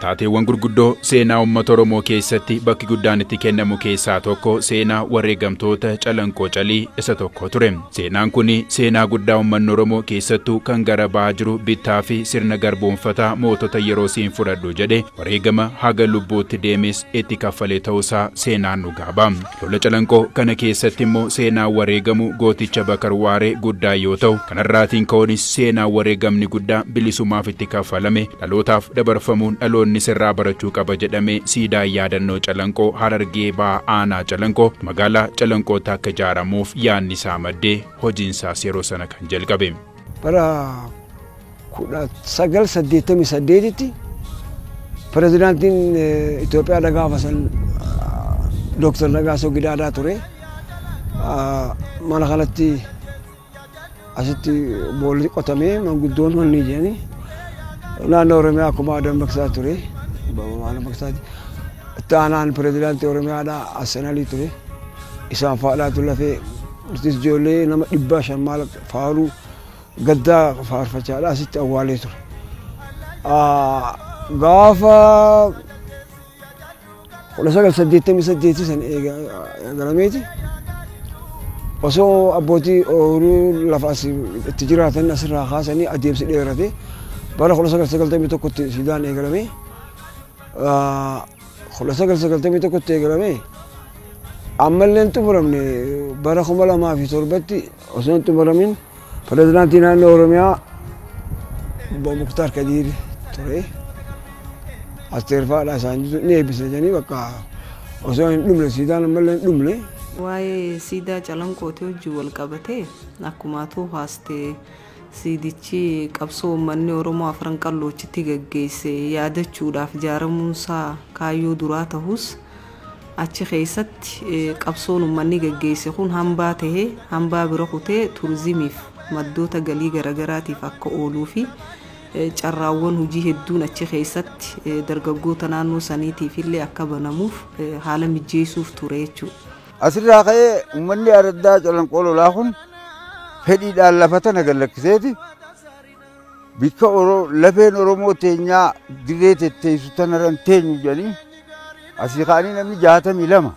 Taateewwan gurguddoo seenaa uummata Oromoo keessatti bakki guddaan itti kennamu keessaa tokko seenaa wareegamtoota calanqoo calii isa tokko ture. Seenaan kun seenaa guddaa uummanni Oromoo keessattuu kan gara bahaa jiru bittaa fi sirna garboonfataa mootota yeroo siin fudhadhu jedhe wareegama haga lubbuutti deemes itti kaffalee ta'uusaa seenaan dhugaa ba'a. Lola Calanqoo kana keessatti immoo seenaan wareegamu gooticha Bakar Waaree guddaa yoo ta'u, kanarraatiin ka'uunis seenaan wareegamni guddaa bilisumaaf itti kaffalame dhalootaaf dabarfamuun dhaloonnis irraa barachuu qaba jedhamee siidaan yaadannoo Calanqoo Harargee Bahaa Aanaa Calanqoo magaalaa Calanqootti akka ijaaramuuf yaadni isaa maddee hojiinsaas yeroo sana kan jalqabe. Bara 1988tti pirezidaantiin Itoophiyaadha gaafa san Dooktar Nagaasoo Gidaadaa ture. Mana kanatti asitti boolli qotamee manguddoon wanni jedhanii naannoo Oromiyaa akkuma dammaqsaa ture. Dammaqsaati. Itti aanaan pirezidaantii Oromiyaadha Assanalii ture. Isaan faadhaatu lafee nutis ijoollee nama dhibba shan maal faaruu Gaddaa faarfachaadha asitti awwaalee ture. Gaafa 1988 san eegalameeti osoo abbootii ooyiruu lafa as itti jiraatan asirraa kaasanii adeemsi dheerate bara 1991tti siidaan eegalame. 1991tti eegalamee ammallee hin xumuramne bara 2007tti osoo hin xumuramin pirezidaantii naannoo Oromiyaa obbo Muktaar Kadiir ture. Asteer Faadhaa isaan jiru ni eebbisa jedhanii bakka osoo hin dhumne siidaan ammallee hin dhumne. Waa'ee siidaa calanqootii wajjin wal qabatee akkuma atuu haastee Siidichi qabsoo uummanni Oromoo Afran Qalloochitti gaggeesse yaadachuudhaaf ijaaramuunsaa kaayyoo duraa tahus, achi keessatti qabsoon uummanni gaggeesse kun hambaa tahee hambaa bira kutee turizimiif, maddoota galii garagaraatiif akka ooluufi carraawwan hojii hedduun achi keessatti dargaggoota naannoo saniitiifillee akka banamuuf haala mijjeessuuf ture jechuudha. Asirraa ka'ee uummanni araddaa calanqoo lolaa kun fedhiidhaan lafa tana gad lakkiseeti bikka Oro- lafeen Oromoo teenyaa dirree tetteessu tanarra hin teenyu jedhanii asii ka'anii namni jaatamii lama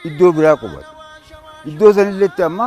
iddoo biraa qubate. Iddoo sanilletti amma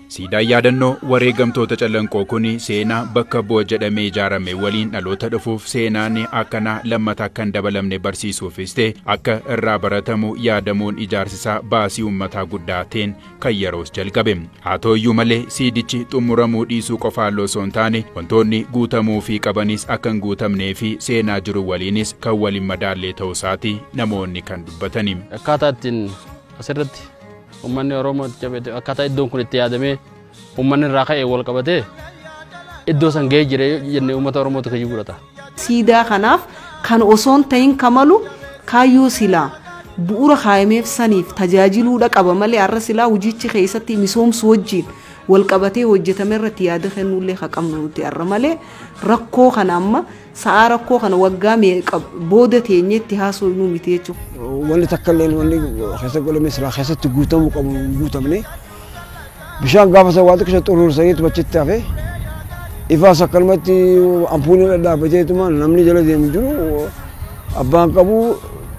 Siidaan yaadannoo wareegamtoota Callanqoo kun seenaa bakka bu'a jedhamee ijaarame waliin dhaloota dhufuuf seenaan akkanaa lammata akka hin dabalamne barsiisuufis ta'e akka irraa baratamu yaadamuun ijaarsisaa baasii uummataa guddaa ta'een kan yeroos jalqabe. Haa ta'uyyuu malee siidichi xumuramuu dhiisuu qofaallee osoo hin taane wantoonni guutamuufii qabanis akka hin guutamnee fi seenaa jiru waliinis kan wal hin madaallee ta'uu isaati namoonni kan dubbatani. Akkaataa ittiin Asirratti uummanni Oromoo itti cabee akkaataa iddoon kun itti yaadamee uummanni irraa ka'ee wal qabatee iddoo san ga'ee jira jennee uummata Oromootu kiyyuu godhata. Siidaa kanaaf kan osoon ta'in kamalu kaayyoo silaa bu'uura kaayameef saniif tajaajiluudha qaba malee har'a silaa hojiichi keessatti misoomsu wajjin wal qabatee hojjetame irratti yaada kennuullee ka qabnu nuti har'a malee rakkoo kana amma Sa'aa rakkoo kana waggaa meeqa booda teenyee itti haasoynu miti jechuudha. Wanni takka illee wanni keessa godhame silaa keessatti guutamuu qabu hin guutamne. Bishaan gaafa sana waa xiqqisha xuruursaniitu achitti hafe. Ifaas akkanumatti ampuuliin dhadhaabateetuma namni jala deemu jiru abbaan qabu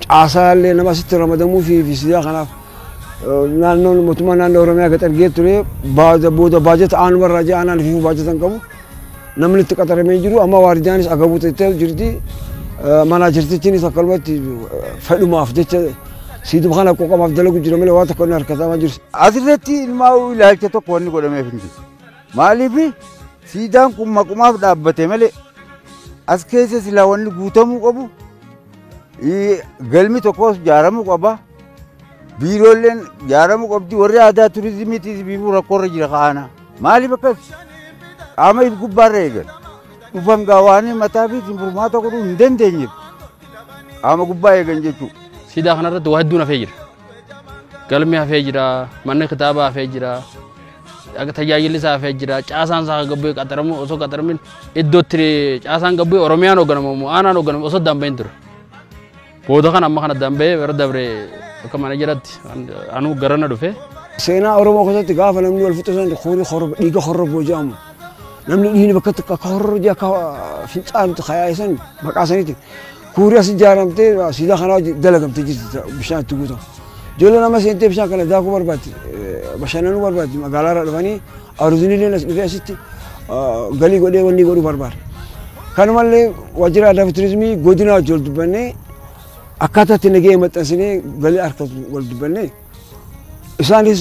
caasaa illee nama asitti ramadamuu fi fi sidaa kanaaf naannoon mootummaa naannoo Oromiyaa gaxargee ture booda baajata aanumarraa ja'anaan fi baajata hin qabu. Namni itti qaxaramee jiru amma waardiyaanis agabuu ta'ee jirti. Manaajertichiinis akkanumatti fedhumaaf jecha siiduma kana qoqqamaaf dalagu jira malee waan tokko inni harkatamaa jiru. Asirratti ilmaa'uu ilaalcha tokko wanni godhameef hin jiru. Maaliif siidaan kun maqumaaf dhaabbate malee as keessa silaa wanni guutamuu qabu galmi tokkos ijaaramuu qaba. Biiroolleen jaaramuu qabdi warri aadaa turizimiitiis biifuu rakkoorra jira ka'aana. Maaliif akkas qaama if gubbaarra eegan dhufan gaa waanii mataa fi isin furmaata godhuu hin dandeenyeef qaama gubbaa eegan jechuudha. Siidaa kanarratti waa hedduun hafee jira. Galmi hafee jira, manni kitaabaa hafee jira, tajaajilli isaa hafee jira, caasaan isaa gabbee qaxaramu osoo qaxaramin iddootti caasaan gabbee Oromiyaan hoogganamu aanaan hoogganamu osoo addaan bahin ture. Booda kana amma kana addaan bahee bara dabre akka mana jedhatti anuu garana dhufe. Seenaa Oromoo keessatti gaafa namni wal fixu san horii horrobaa dhiiga horroboo jedhamu. Namni dhiigni bakka tokko akka horroo jee akka fincaanutti kayaa'e san maqaa saniitiin kuurii as ijaaramtee siidaa kanaa dalagamtee jirti bishaan itti guutamu. Ijoolleen amma seentee bishaan kana daakuu barbaaddi, bashannanuu barbaaddi, magaalaa irraa dhufanii aruzinillee as dhufee asitti galii godhee wanni godhuu barbaada. Kanumallee waajjira aadaa fi turizimii godina wajjin wal dubbannee akkaataa itti nagahee maxxansinee galii harkatu wal dubbannee isaanis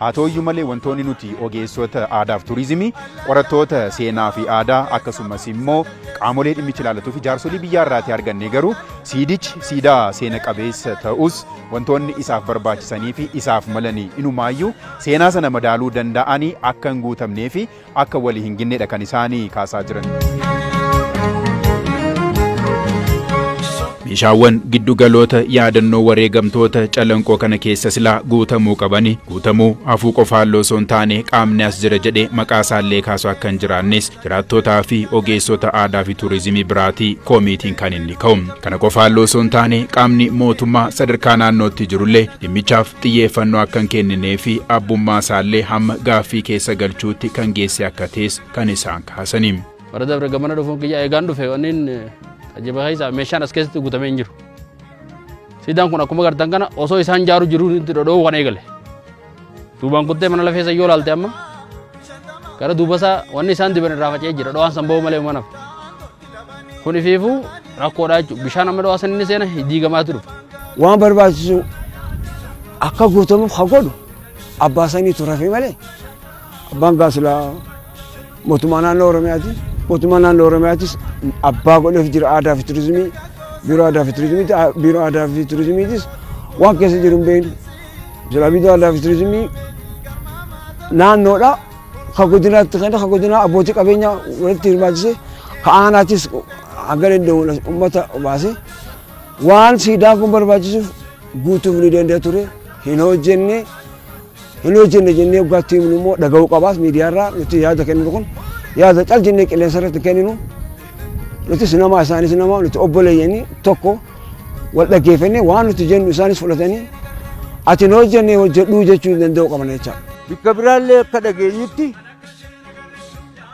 Haa ta'uyyuu malee wantoonni nuti ogeessota aadaaf turizimii, qorattoota seenaa fi aadaa akkasumas immoo qaamolee dhimmichi ilaallatu fi jaarsolii biyyaa irraatii arganne garuu siidichi siidaa seena qabeessa ta'us wantoonni isaaf barbaachisanii fi isaaf malanii inumaayyuu seenaa sana madaaluu danda'anii akka hin guutamnee fi akka wali hin ginnedha kan isaani kaasaa jiran. Meeshaawwan giddu galoota yaadannoo wareegamtoota calanqoo kana keessa silaa guutamuu qabani guutamuu hafuu qofaan loosoo hin taane qaamni as jira jedhee maqaa isaallee kaasu akka hin jiraannes jiraattootaa fi ogeessota aadaa fi tuurizimii biraatii koomiitiin kan inni ka'u. Kana qofaan loosoo hin taane qaamni mootummaa sadarkaa naannootti jirullee dhimmichaaf xiyyeeffannoo akka hin kenninee fi abbummaa isaallee hamma gaaffii keessa galchuutti kan geesse akka ta'es kan isaan kaasanii. Bara dabre gamana dhufuun kiyya eegaan dhufe wanniin tajaajila keessaa meeshaan as keessatti guutamee hin jiru. Siidaan kun akkuma gartan kana osoo isaan ijaaruu jiruu itti dhodhoo'uu kan eegale. Duubaan kuttee mana lafeessa yoo ilaalte amma gara duubasaa wanni isaan diban irraa faca'ee jira dho'aan san ba'uu malee mana. Kun ifiifuu rakkoodha jechuudha. Bishaan amma dhawaa sanni seena diigamaatu dhufa. Waan barbaachisu akka guutamuuf kan godhu abbaa sanii turafe malee abbaan gaasila mootummaa naannoo Oromiyaati. Mootummaa naannoo Oromiyaatis abbaa godheef jira aadaa fi turizimii biiroo aadaa fi turizimiiti. Biiroo aadaa fi turizimiitis waan keessa jiru hin beeknu. Silaa biiroo aadaa fi turizimii naannoodha. ka godinaatti kenna ka godinaa abbootii qabeenya walitti hirmaachise ka aanaatis hanga danda'uun uummata baase waan siidaan kun barbaachisuuf guutuuf ni danda'a ture hin hojjenne hin hojjenne jennee dhugaatti himnu immoo dhaga'uu qabaas miidiyaarraa nuti yaada kenninu kun yaada cal jennee qilleensa irratti kenninu Nutis namaa isaanis namaa nuti obboleeyyanii tokko wal dhaggeeffannee waan nuti jennu isaanis fudhatanii ati hin hojjenne hojjedhuu jechuu danda'u qabna jechaadha. Bakka biraallee akka dhageenyutti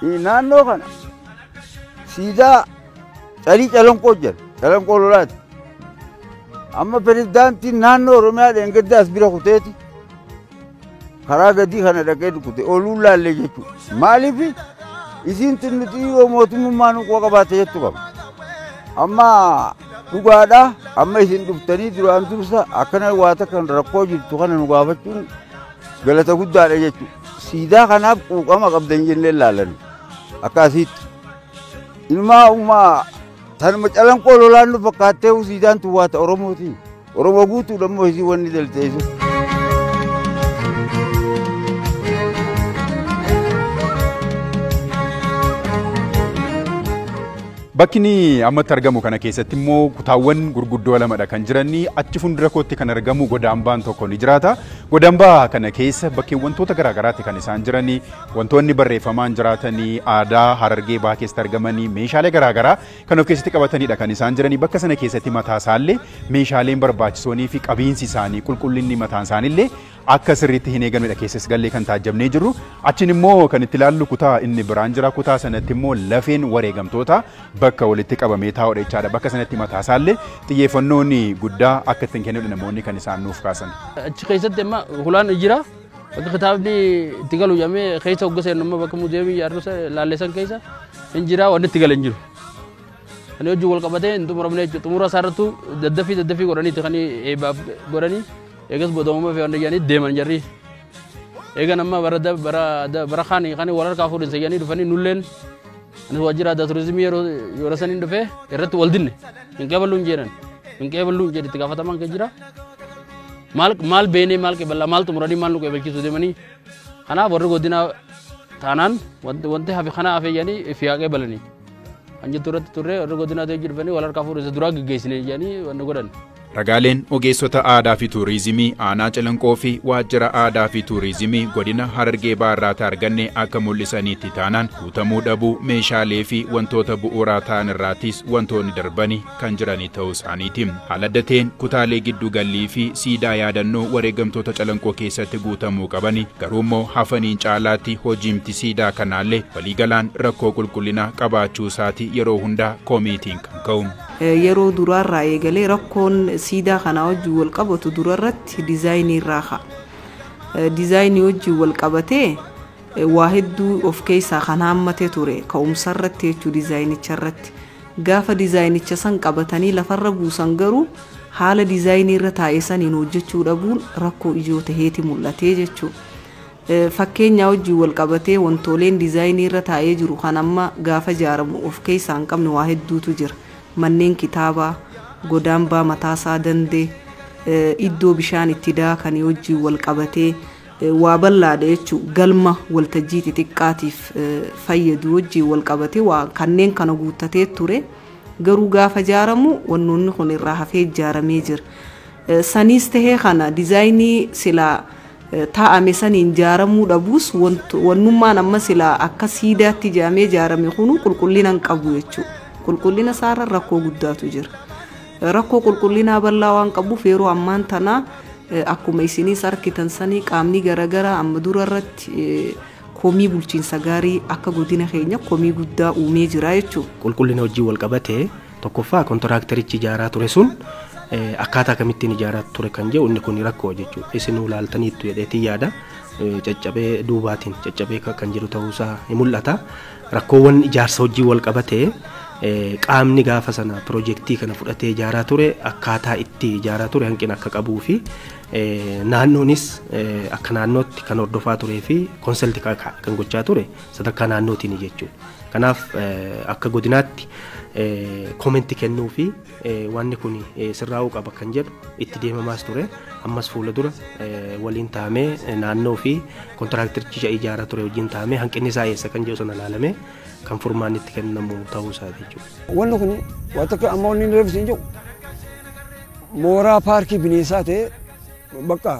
eh, naannoo kana siidaa calii calanqoo jira. Calanqoo lolaati. Amma pirezidaantiin naannoo Oromiyaa dheengaddaas bira kuteeti. karaa gadii kana dhaqee dukkute oluun laallee jechuudha. Maaliif isiin tun nuti yoo mootummaa nu quba qabaate jettu qaba. Amma dhugaadha amma isin dhuftanii duraan dursa akkana waa takka rakkoo jirtu kana nu gaafachuun galata guddaadha jechuudha. Siidaa kanaaf quuqama qabdan jennee laalan akkasitti. Ilmaa uumaa tanuma calanqoo lolaan nu fakkaattee siidaan tun waata Oromootiin. Oromoo guutuudha immoo isii wanni dalteessu. Bakki inni ammatti argamu kana keessatti immoo kutaawwan gurguddoo lamadha kan jiran achi fuuldura kootti kan argamu godaambaan tokko ni jiraata. Godaambaa kana keessa bakkee wantoota garaagaraatti kan isaan jiran wantoonni barreeffamaan jiraatan aadaa harargee bahaa keessatti argaman meeshaalee garaagaraa kan of keessatti qabatanidha kan isaan jiranii bakka sana keessatti mataa isaallee meeshaaleen barbaachisoonii fi qabiinsi isaanii qulqullinni mataan isaaniillee akka sirriitti hin eegamnedha keessas gallee kan taajjabnee jirru achiin immoo kan itti ilaallu kutaa inni biraan jira kutaa sanatti immoo lafeen wareegamtoota bakka walitti qabamee taa'udha jechaadha bakka sanatti mataa isaallee xiyyeeffannoon guddaa akka ittiin kennudha namoonni kan isaan nuuf kaasan. Achi keessatti amma hulaan jira Bakka kitaabni itti galu jedhamee keessa hogga seennu immoo bakka muuziyeemii yaadota laalleessan keessa hin jiraa wanni itti gale hin jiru. Kan hojii wal qabatee hin xumuramne jechuudha. Xumura isaarrattuu daddafii daddafii godhaniiti kan eebbaaf godhanii eegas booda uumaa fi wanda jedhanii deeman jarri. Eegan amma bara da- bara da- bara kaan kan wal harkaa fuudhinsa jedhanii dhufanii nulleen anis waajjira aadaa turizimii yeroo yeroo saniin dhufee irratti wal dinne hin qeeballuun jedhan hin qeeballuun jedhe itti gaafatamaan kan jira. maal maal beenee maal qeeballaa maal xumuranii maal nu qeebalchiisu deemanii kanaaf warri godinaa taanaan wanti wanti hafe kana hafe jedhanii fi haa qeebalanii kan jettu irratti turre warri godinaa ta'ee jirbanii wal harkaa fuudhee duraa geggeessine jedhanii wanni godhan. Ragaaleen ogeessota aadaa fi tuurizimii aanaa calanqoo fi waajjira aadaa fi tuurizimii godina harargee baarraatti arganne akka mul'isaniitti taanaan guutamuu dhabuu meeshaalee fi wantoota bu'uuraa ta'an irraattis wantoonni darbani kan jiranii ta'uu isaaniiti. Haala adda ta'een kutaalee giddu gallii fi siidaa yaadannoo wareegamtoota calanqoo keessatti guutamuu qabani garuu immoo hafaniin caalaatti hojiimti siidaa kanaallee waliigalaan rakkoo qulqullinaa qabaachuu isaati yeroo hundaa komiitiin kan ka'u. Yeroo duraarraa eegalee rakkoon siidaa kanaa wajjin wal qabatu durarratti dizaayinii irraa ka'a. Dizaayinii wajjin wal qabatee waa hedduu of keessaa kan haammate ture ka'umsarratti jechuu dizaayinicha irratti. Gaafa dizaayinicha san qabatanii lafarra buusan garuu haala dizaayinii irra taa'e saniin hojjechuu dhabuun rakkoo ijoo taheeti mul'ate jechuudha. Fakkeenyaa wajjin wal qabatee wantooleen dizaayinii irra taa'ee jiru kan amma gaafa ijaaramu of keessaa hin qabne waa hedduutu jira. Manneen kitaabaa, godaambaa mataasaa dandee, iddoo bishaan itti daakanii wajjin wal qabatee, waa ballaadha jechu galma waltajjii xixiqqaatiif fayyadu wajjiin wal qabate waa kanneen kana guuttatee ture garuu gaafa jaaramu wannoonni kun irraa hafee ijaaramee jira. Saniis tahee kana dizaayinii silaa taa'ame saniin jaaramuu dhabuus wannummaan amma silaa akka siidaatti jaamee jaarame kunuu qulqullina hin qabu jechuudha. Qulqullina isaarra rakkoo guddaatu jira. Rakkoo qulqullinaa bal'aa waan qabuuf yeroo ammaan tanaa akkuma isiniis arkitan sanii qaamni garagaraa amma dura irratti komii bulchiinsa gaarii akka godina keenya komii guddaa uumee jira jechuudha. Qulqullina wajjin wal qabatee tokkoffaa kontiraaktarichi ijaaraa ture sun akkaataa kamittiin ijaaraa ture kan jedhu inni kun rakkoo jechuudha. Isinuu laaltaniittu jedheetiin yaada caccabee duubaatiin caccabee kan jiru ta'uusaa ni mul'ata. Rakkoowwan ijaarsa wajjin wal qabate qaamni gaafa sana pirojektii kana fudhatee ijaaraa ture akkaataa itti ijaaraa ture hanqina akka qabuu fi naannoonis akka naannootti kan hordofaa turee fi konsalti kan gochaa ture sadarkaa naannootiin jechuudha. Kanaaf akka godinaatti komenti kennuu fi Wanni kun sirraa'uu qaba kan jedhu itti deemamaas ture. Ammas fuula dura waliin taa'amee naannoo fi kontiraaktericha ijaaraa ture wajjin taa'amee hanqinni isaa eessa kan jedhu sana ilaalamee kan furmaanni itti kennamu ta'uu isaa jechuudha. Wanni kun waan tokko amma wanni inni reefsi hin jiru mooraa paarkii bineensaa ta'ee bakka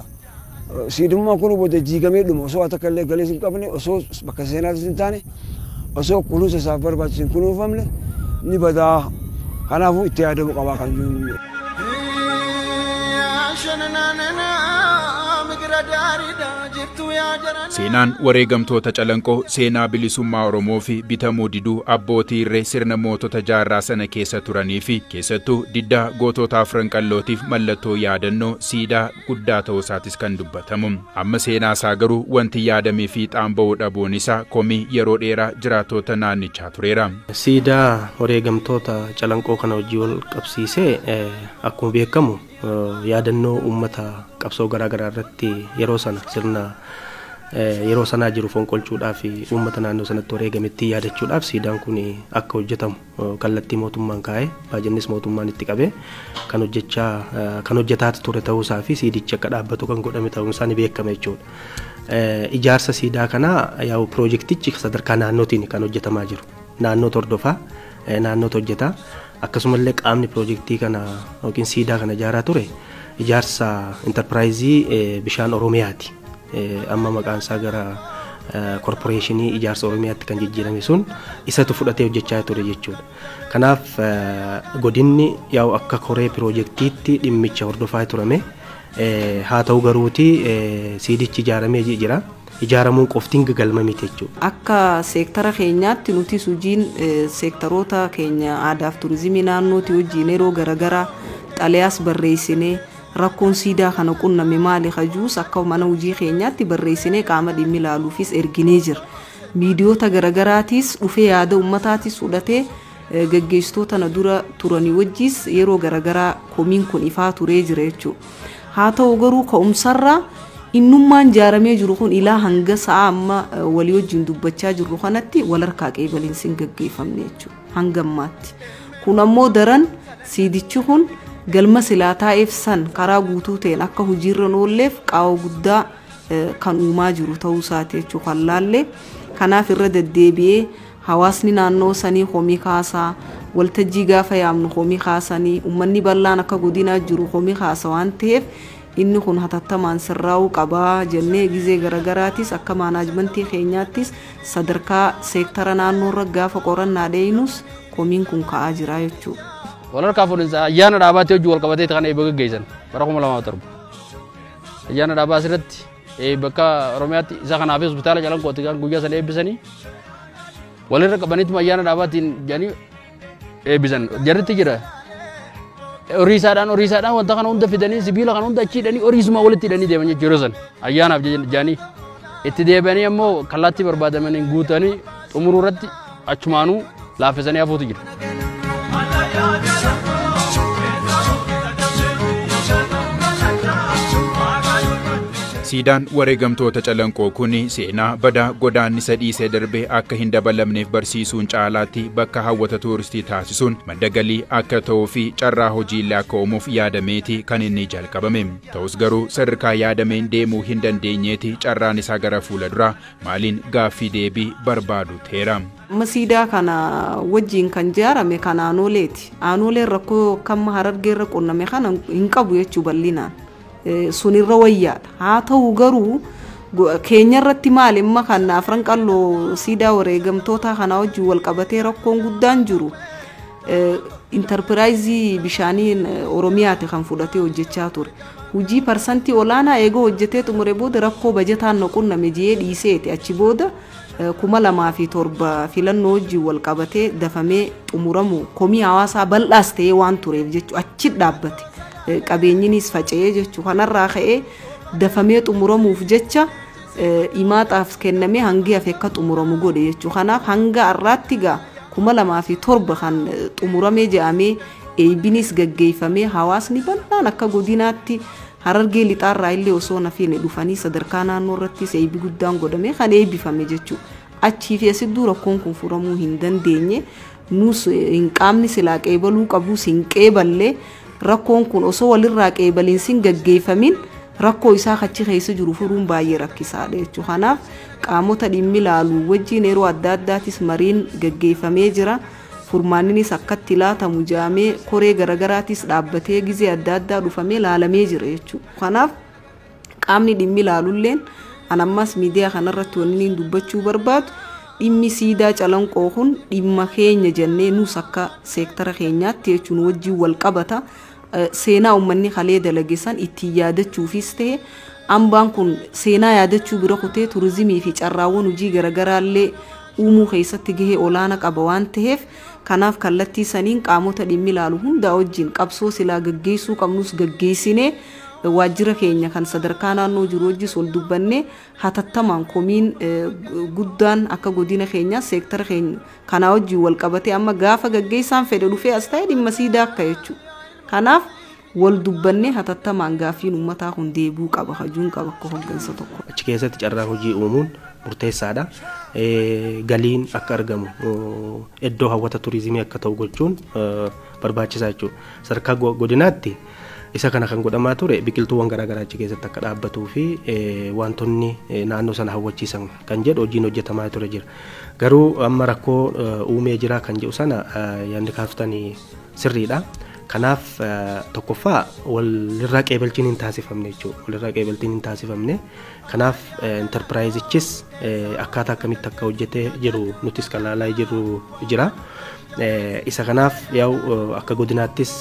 Siidummaan kun booda diigamee dhuma. Osoo waa takka illee galees hin qabne, osoo bakka seenaatis hin taane, osoo kunuunsa isaaf barbaachisu hin kunuunfamne ni bada. Kanaafuu itti yaadamuu qaba kan jiru. Seenaan wareegamtoota Calanqoo seenaa bilisummaa Oromoo fi bitamuu diduu abbootii irree sirna mootota jaarraa sana keessa turanii fi keessattuu diddaa gootota afran qallootiif mallattoo yaadannoo siidaa guddaa ta'uu isaatis kan dubbatamu. Amma seenaa isaa garuu wanti yaadamee fiixaan ba'uu dhabuun isaa komii yeroo dheeraa jiraattoota naannichaa tureera. Siidaa wareegamtoota Calanqoo kana wajjin wal qabsiisee akkuma beekamu yaadannoo uummata qabsoo garaa garaa irratti yeroo sana sirna yeroo sanaa jiru fonqolchuudhaaf uummata naannoo sanatti wareegamettii yaadachuudhaaf siidaan kun akka hojjetamu kallattii mootummaan kaa'e, baajannis mootummaan itti qabe kan hojjechaa kan hojjetaati ture ta'uu isaa fi siidichi akka dhaabbatu kan godhame ta'uun isaa ni beekama jechuudha. Ijaarsa siidaa kanaa yaa'u piroojektichi sadarkaa naannootiin kan hojjetamaa jiru. Naannoo hordofaa, naannoo hojjetaa akkasumallee qaamni piroojektii kana yookiin siidaa kana ijaaraa ture ijaarsa intarpiraayizii bishaan Oromiyaati. Amma maqaan isaa gara korporeeshinii ijaarsa Oromiyaatti kan jijjiirame sun isatu fudhatee hojjechaa ture jechuudha. Kanaaf godinni yaa'u akka koree piroojeektiitti dhimmicha hordofaa turame. Haa ta'u garuuti siidichi ijaaramee jira. Ijaaramuun qoftiin galma miti jechuudha. Akka seektara keenyaatti nutis hojiin seektaroota keenya aadaaf turizimii naannootii wajjin yeroo garaagaraa xalayaas barreessinee Rakkoon siidaa kana qunname maali ka jius akka mana hojii keenyaatti barreessinee qaama dhimmi ilaaluufis erginee jirra. Miidiyoota garagaraatiis dhufee yaada ummataatiis fudhatee gaggeessitoota na dura turanii wajjiis yeroo garagaraa komiin kun ifaa turee jira jechuu. Haa ta'u garuu ka'umsarraa innummaan jaaramee jiru kun ilaa hanga sa'aa amma walii wajjiin dubbachaa jirru kanatti wal harkaa qeebalinsi hin gaggeeffamne jechuu. hanga ammaatti. Kun ammoo daran siidichi kun galma silaa taa'eef san karaa guutuu ta'een akka hojiirra hin oolleef qaawwa guddaa eh, kan uumaa jiru ta'uu isaati jechuu kan laalle. Kanaaf irra deddeebi'ee hawaasni naannoo sanii komii kaasaa waltajjii gaafa yaamnu komii kaasanii uummanni bal'aan akka godinaa jiru komii kaasa waan ta'eef Inni kun hatattamaan sirraa'uu qaba jennee gizee garagaraatiis akka maanaajmantii keenyaattis sadarkaa seektara naannoorra gaafa qorannaa dheeynus komiin kun ka'aa jira jechuudha. Wal harkaa fuudhinsa ayyaana dhaabaatii wajjin wal qabateeti kan eebba gaggeessan bara 2007. Ayyaana dhaabaa asirratti eebba akka Oromiyaatti isa kanaaf hospitaala Calanqooti kan guyyaa sana eebbisanii walirra qabaniituma ayyaana dhaabaatiin jedhanii eebbisan jarritti jira horiisaadhaan horiisaadhaan wanta kana hunda fidanii sibiila kana hunda achi hidhanii horiisuma walitti hidhanii deeman jechuudha yeroo san ayyaanaaf jedhanii itti deebi'anii ammoo kallaattii barbaadamaniin guutanii xumuruu irratti achumaanuu laaffisanii hafuutu jira. Siidaan wareegamtoota Calanqoo kun seenaa badaa godaannisa dhiisee darbe akka hin dabalamneef barsiisuun caalaatti bakka hawwata tuuristii taasisuun madda galii akka ta'uu fi carraa hojiillee akka uumuuf yaadameeti kan inni jalqabame. Ta'us garuu sadarkaa yaadameen deemuu hin dandeenyeeti carraan isaa gara fuula duraa maaliin gaaffii deebii barbaadu ta'eera. Amma siidaa kana wajjiin kan ijaarame kan aanooleeti. Aanooleen rakkoo kamma harargeerra qunname kana hin qabu jechuu bal'inaan. sun irra wayyaadha haa ta'u garuu keenya irratti maal imma kan afran qalloo siidaa wareegamtootaa kanaa wajjin wal qabatee rakkoon guddaan jiru intarpiraayizii bishaanii oromiyaati kan fudhatee hojjechaa ture hojii parsantii olaanaa eegoo hojjetee xumure booda rakkoo bajataan na qunname jiyee dhiiseeti achi booda kuma lamaa fi torba filannoo wajjin wal qabatee dafamee xumuramu komii hawaasaa bal'aas ta'ee waan tureef jechuudha achi dhaabbate. qabeenyiniis faca'ee jechu kanarraa ka'ee dafamee xumuramuuf jecha imaaxaaf kennamee hangi hafe akka xumuramu godhe jechu kanaaf hanga har'aatti gaa kuma lamaa fi torba kan xumuramee jedhamee eeybiniis gaggeeffamee hawaasni bal'aan akka godinaatti harargee lixaarraa illee osoo nafiine dhufanii sadarkaa naannoo irrattis eeybi guddaan godhamee kan eeybifame jechuudha. Achii fi asidduu rakkoon kun furamuu hin dandeenye Nuus hin qaamni silaa qeebaluu qabuus hin qeeballe rakkoon kun osoo walirraa qeebalinsin gaggeeffamin rakkoo isaa kachi keessa jiru furuun baay'ee rakkisaadha jechuudha. Kanaaf qaamota dhimmi laalu wajjin yeroo adda addaatis mariin gaggeeffamee jira. Furmaanninis akkatti laatamu jaamee koree garagaraatis dhaabbatee gizee adda addaa dhufamee laalamee jira jechuudha. Kanaaf qaamni dhimmi ilaalulleen an ammas miidiyaa kanarratti wanniin dubbachuu barbaadu dhimmi siidaa calanqoo kun dhimma keenya jennee nuus akka seektara keenyaatti jechuun wajjin wal qabata seenaa uummanni kalee dalagesan ittiin yaadachuufis ta'e ambaan kun seenaa yaadachuu bira kutee turizimii fi carraawwan hojii garaagaraallee uumuu keessatti gahee olaana qaba waan ta'eef kanaaf kallattii saniin qaamota dhimmi ilaalu hundaa wajjin qabsoo silaa gaggeessuu qabnus gaggeessinee waajjira keenya kan sadarkaa naannoo jiru wajjis wal dubbannee hatattamaan komiin guddaan akka godina keenyaa seektara keenya kanaa wajjin wal qabatee amma gaafa gaggeessaan fedhe dhufee as ta'e dhimma siidaa akka jechuudha. Kanaaf wal dubbannee hatattamaan gaaffiin uummataa kun deebi'uu qaba hajuun qaba akka hoggansa tokko. Achi keessatti carraa hojii uumuun murteessaadha. Galiin akka argamu iddoo hawwata turizimii akka ta'u gochuun barbaachisaa jechuudha. Sadarkaa godinaatti Isa kana kan godhamaa ture biqiltuuwwan garaa garaa achi keessatti akka dhaabbatuu fi wantoonni naannoo sana hawwachiisan kan jedhu hojiin hojjetamaa ture jira. Garuu amma rakkoo uumee jira kan jedhu sana yaadni kaaftan sirriidha. Kanaaf tokkoffaa walirraa qeebalchiin hin taasifamne jechuudha. Walirraa qeebalchiin hin taasifamne. Kanaaf intarpiraayizichis akkaataa akkamitti akka hojjete jiru nutis kan ilaalaa jirru jira. Isa kanaaf yaa'u akka godinaattis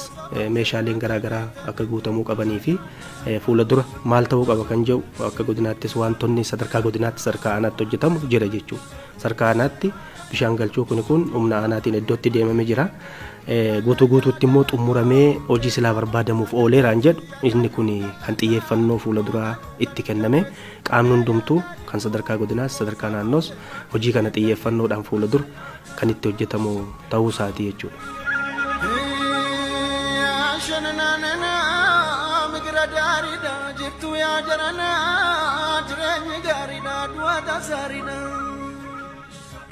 meeshaaleen garaagaraa akka guutamuu qabanii fi fuula dura maal ta'uu qaba kan jedhu akka godinaattis wantoonni sadarkaa godinaatti sadarkaa aanaatti hojjetamu jira jechuudha. Sarka aanaatti bishaan galchuu kuni kun humna aanaatiin iddootti deemame jira. Guutuu guutuutti immoo xumuramee hojii silaa barbaadamuuf ooleeraan jedhu inni kun kan xiyyeeffannoo fuula duraa itti kenname qaamni hundumtuu kan sadarkaa godinaas sadarkaa naannoos hojii kana xiyyeeffannoodhaan fuula dura kan itti hojjetamu tahuu isaati jechuu dha.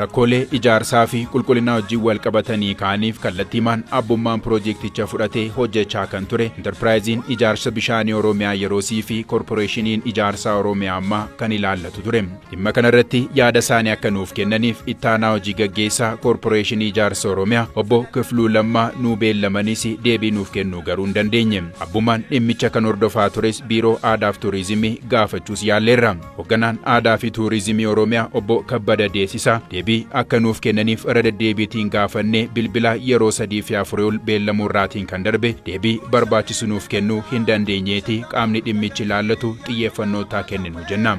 Rakkoolee ijaarsaa fi qulqullinaa wajjin wal qabatanii ka'aniif kallattiimaan abbummaan piroojeekticha fudhatee hojjechaa kan ture Intarpiraayiziin Ijaarsa Bishaanii Oromiyaa yeroosii fi Korporeeshiniin Ijaarsaa Oromiyaa ammaa kan ilaallatu ture. Dhimma kanarratti yaada isaanii akka nuuf kennaniif ittaanaa hojii gaggeessaa Koorporeeshinii Ijaarsa Oromiyaa obbo Kifluu Lammaa nuu beellamanis deebii nuuf kennuu garuu hin dandeenye. Abbummaan dhimmicha kan hordofaa tures Biiroo Aadaaf Tuurizimii gaafachuus yaalleerra. Hogganaan Aadaa fi Tuurizimii Oromiyaa obbo Kabbada Deesisaa deebii akka nuuf kennaniif irra deddeebiitiin gaafannee bilbilaa yeroo sadii fi afurii ol beellamuu irraatiin kan darbe deebii barbaachisu nuuf kennuu hin dandeenyeeti qaamni dhimmichi ilaallatu xiyyeeffannoo taa kenninu jenna.